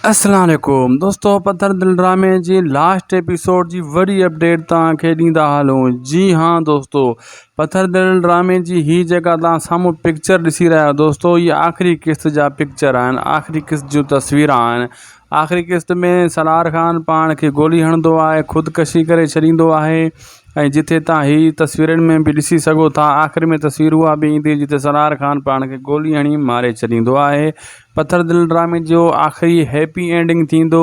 اسلام عليڪم دوستو پٿر دل ڊرامي جي لاسٽ ايپيسوڊ جي وڏي اپڊيٽ توهان کي ڏيندا هلون جي ها دوستو پٿر دل ڊرامي جي هي جيڪا توهان سامهون پڪچر ڏسي رهيا آهيو دوستو هي آخري قسط جا پڪچر آهن آخري قسط جون تصويران آهن آخري قسط ۾ سلار خان پاڻ کي گولي هڻندو آهي خودڪشي ڪري ڇڏيندو آهي ۽ جتي توهان هي تصويرن ۾ به ڏسي سگهو ٿا آخر ۾ تصوير اها به ايندي جتي سلار خان پاڻ کي گولي هڻي ماري ڇڏيندو آهي پٿر دل ڊرامي جو آخري هيپي اينڊنگ ٿيندو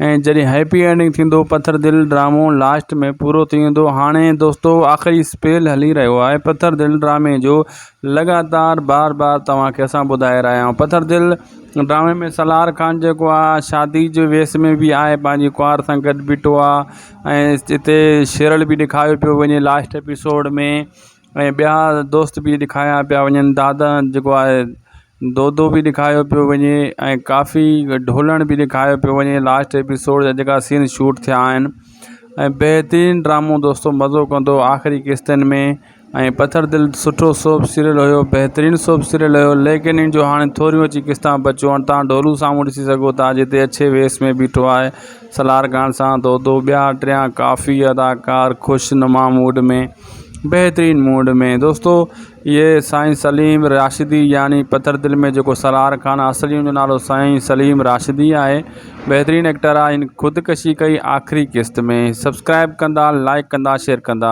۽ جڏهن هيپي اينڊنگ ٿيندو پٿر دل ڊرامو لاسٽ ۾ پورو ٿي ويندو هاڻي دوستو آخري سپيل هلي رهيو آهي پٿر دل ڊرامي جو لڳاتار بار بار توهان کي اسان ٻڌائي رهيا آهيون پٿر دل ڊرامي ۾ سالار خان جيڪو آهي شادي جي ويس ۾ به آهي پنهنجي ڪنوار سان گڏ بيٺو آهي ۽ جتي شيرل به ڏيکاريو پيو وڃي لاسٽ ايپيسوڊ ۾ ۽ ٻيا دوست بي ڏکايا پيا وڃن دادا جيڪو آهي دودو بي ڏکايو پيو وڃي ۽ ڪافي ڍولڻ بي ڏکايو پيو وڃي لاسٽ ايپيسوڊ جا جيڪا سين شوٽ ٿيا آهن ۽ بهترين ڊرامو دوستو مزو ڪندو آخري قسطن ۾ ۽ پٿر دل سٺو سوپ سيريل هيو بهترين سوپ سيريل هيو ليڪن ان جو هاڻي ٿوريون اچي قسطان بچيون آهن تان ڍولو سامهون ڏسي سگهو ٿا جتي اڇي ويس ۾ بيٺو آهي سالار خان سان دودو ٻيا ٽيا ڪافي اداڪار خوش نما موڊ ۾ بهترين موڊ ۾ دوستو اهي سائين سليم راشدي يعني پٿر دل ۾ جيڪو سالار خان آهي اصل هن جو نالو سائين سليم راشدي آهي بهترين ايڪٽر آهي هن خودڪشي ڪئي آخري قسط ۾ سبسڪرائب ڪندا لائڪ ڪندا شيئر ڪندا.